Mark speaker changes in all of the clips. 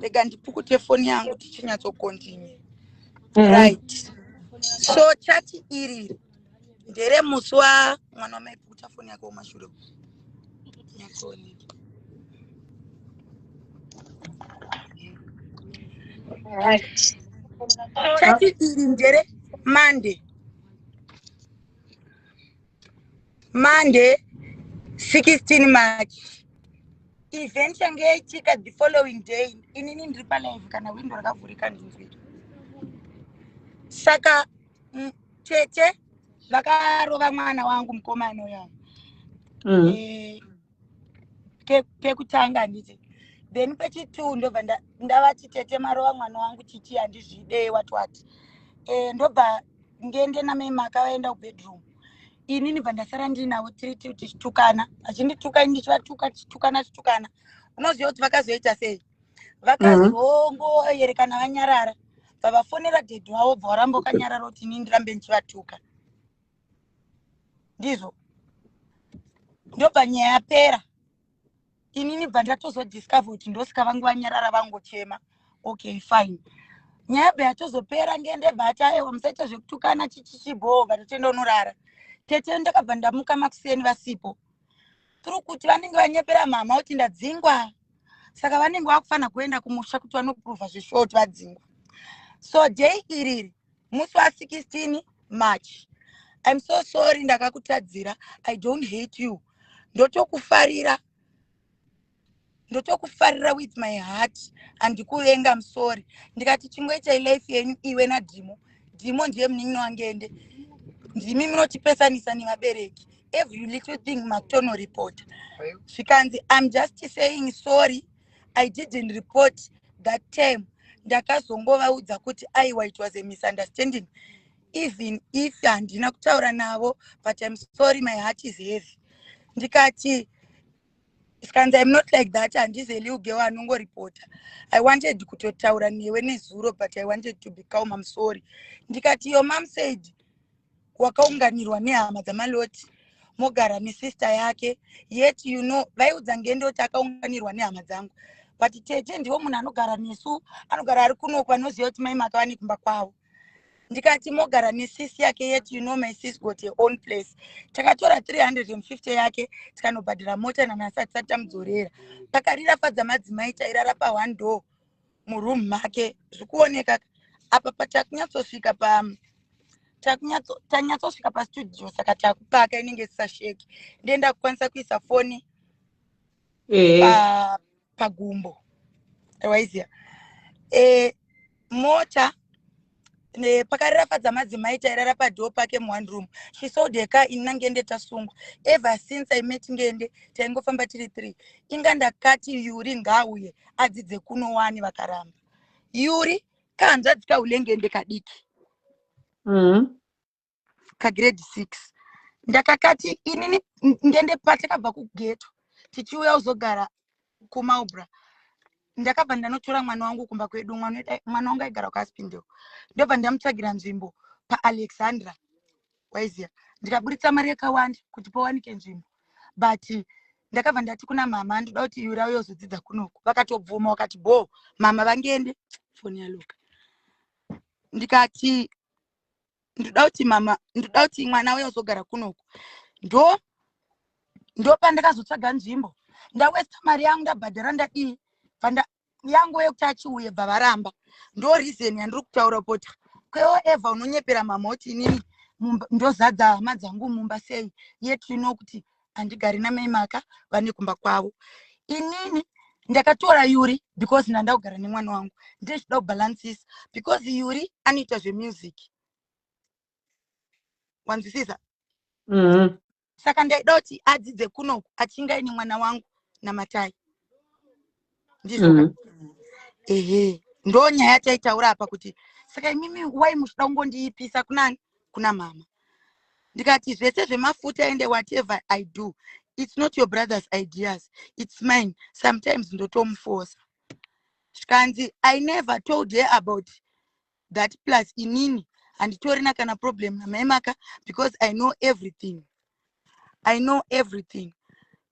Speaker 1: rega ndipukute foni yangu tichinyatsokontinue mm. right so chati iri ndere musi wa mwana wamaipukuta foni yake womashure nyatsooneka
Speaker 2: right
Speaker 1: chati iri ndere monday monday 16 march event yange yaitika the following day inini ndiri palive kana windo rakavhurika ndinzwiri saka tete vakarova mwana wangu mukomana uyavo mm. e, eh, pekutanga handiti then pechitu ndobva ndavati tete marova mwana wangu chichi handizvide watwati e, eh, ndobva ngende namai maka vaenda kubedroom inini bva ndasara ndinavo tiri tiu tichitukana vachindituka ini ndichivatuka tichitukana tichitukana unoziva kuti vakazoita sei vakazongoyerekana mhm. vanyarara bva vafonera dhedhi wavo bva waramba ukanyarara kuti ini ndirambe ndichivatuka ndizvo ndobva nyaya yapera inini bva ndatozodiscover kuti ndosika vangu vanyarara vangochema okay fine nyaya bva yatozopera ngende bata aiwa musaita zvekutukana chichichibhoo bva totoenda unorara tete ndakabva ndamuka makuseni vasipo tiri kuti vanenge vanyepera mhama kuti ndadzingwa saka vanenge vakufanira kuenda kumusha kuti vanopruvha zveshort vadzingwa so day iriri musi wa 16 march im so sorry ndakakutadzira i don't hate you ndotokufarira ndotokufarira with my heart handikuvenga musori ndikati chingoitai life yenyu iwe nadhimo dhimo ndiye munin'ina wangende ndimi munotipesanisa nevabereki every little thing makutonoreporta zvikanzi im just saying sorry i didn't report that time ndakazongovaudza kuti aiwa it was a misunderstanding even if handina kutaura navo but im sorry my heart is heavy ndikati skanzi im not like that handizi eliugewo anongoripota i wanted kutotaura newe nezuro but i wanted to be calm im sorry ndikati yo mam said wakaunganirwa nehama dzamaloti mogara nesister yake yet you know vaiudza ngende kuti akaunganirwa nehama dzangu but tete ndivo munhu anogara nesu anogara ari kunoko anoziva kuti mai makava nekumba kwavo ndikati mogara nesisi yake yet you know my sis got her own place takatora 350 yake tikanobhadhira mota nanhasi hatisati tamudzorera pakarira fadza madzimai tairara pa one door muroom make zvikuoneka apa patakunyatsosvika pa tanyatsosvika pastudio saka takupaka inenge isisasheki ndienda kukwanisa kuisa foni eh. pagumbo waiziva eh, mota Eh, pakarira fadza madzimai tairara padhoo pake muone room she sold her car ini nangende tasungwa ever since i met ngende taingofamba tiri three inga ndakati yuri ngaauye adzidze kuno wani vakaramba yuri kahanzvadzi kaulengende kadiki mm -hmm. kagrade six ndakakati inini ngende patakabva kugeto tichiuya kuzogara kumaubra ndakabva ndanotora mwana wangu kumba kwedu mwana wangu aigara kuaspindel ndobva ndamutsvagira nzvimbo paalexandra waiziva ndikaburitsa mari yakawanda kuti pawanike nzvimbo but ndakabva ndati kuna mama ndoda kuti iwe rauya uzodzidza kunoku vakatobvuma wakati bo mama vangende foni yaluka ndikati ndoda kuti mama ndoda kuti mwana uye uzogara kunoku ndo ndopandakazotsvaga nzvimbo ndawesta mari yangu ndabhadhara ndadii panda yangu yekuti achiuye bva varamba ndo reason yandiri kutaura pota kwewo eva unonyepera mama kuti inini ndozadza hama dzangu mumba sei yet you know kuti handigari namai maka vane kumba kwavo inini ndakatora yuri because ndanda kugara nemwana wangu ndezvida kubalances because yuri anoita zvemusic wanzwisisa mm -hmm. saka ndaida kuti adzidze kunoku achingaine mwana wangu namatai ndizvo mm. ehe ndo nyaya taitaura apa kuti saka imimi wai muchida kungondiipisa kunani kuna mama ndikati zvese zvemafuta ende whatever i do it's not your brother's ideas it's mine sometimes ndotomufosa zvikanzi i never told her about that plus inini handitorina kana problem namai maka because i know everything i know everything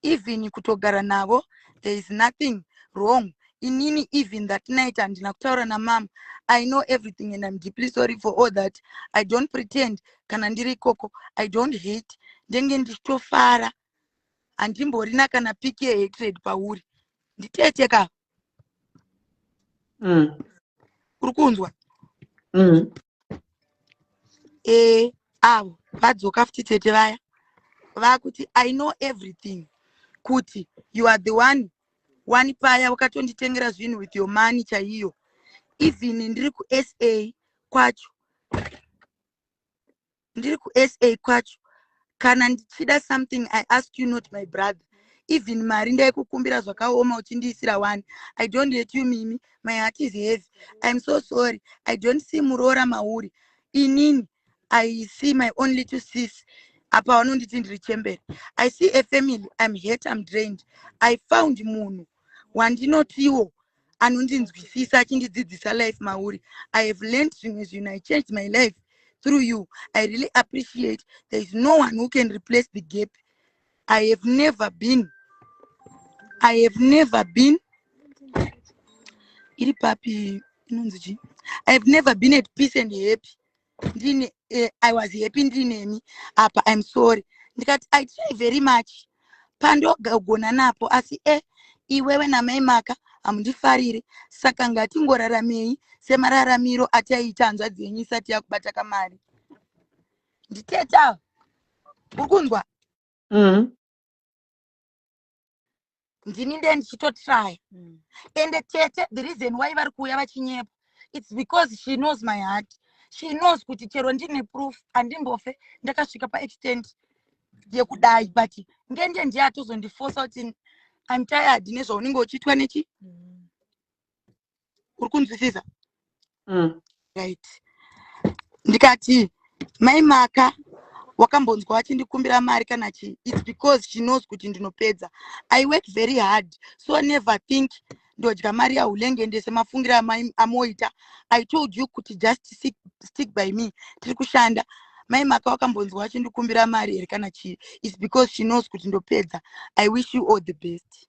Speaker 1: even kutogara navo there is nothing wrong inini even that night handina kutaura namama i know everything and im deeply sorry for all that i don't pretend kana ndiri ikoko i don't hate ndenge ndichitofara handimborina kana piki yehatred pauri nditete ka mm. uri kunzwa mm. e, avo vadzoka futi tete vaya vakuti i know everything kuti you are the one one paya wakatonditengera zvinhu with your money chaiyo even ndiri kusa kwacho ndiri kusa kwacho kana ndichida something i ask you not my brother even mari ndaikukumbira zvakaoma uchindiisira one i don't hate you mimi my heart is heavy iam so sorry i don't see muroora mauri inini i see my only two sis apa vanonditi ndiri chembere i see a family iam hate iam drained i found munhu wandinotiwo anondinzwisisa achindidzidzisa life mauri i have learned zvimwe zvinhu i changed my life through you i really appreciate there is no one who can replace the gap i have never been i have never been iri papi inonzi chii i have never been at peace and happy ndini uh, i was happy ndinemi apa im sorry ndikati i try very much pandogona napo asi e eh, iwewe namai maka hamundifariri saka ngatingoraramei semararamiro ataiita hanzvadzi yenyu isati yakubata kamari nditeta uri kunzwa mm. ndini ndee ndichitotraya mm. ende tete the reason why vari kuuya vachinyepa its because she knows my heart she knows kuti chero ndine proof andimbofe ndakasvika paextent yekudai but ngende ndiye atozondifosa kuti im tired nezvaunenge uchiitwa nechi mm. uri kunzwisisa mm. right ndikati mai maka wakambonzwa wachindikumbira mari kana chii its because she knows kuti ndinopedza i work very hard so never think ndodya mari yaulenge ndese mafungiro amoita i told you kuti just stick, stick by me tiri kushanda mai maka wakambonzwa wachindikumbira mari here kana chii its because she knows kuti ndopedza i wish you all the best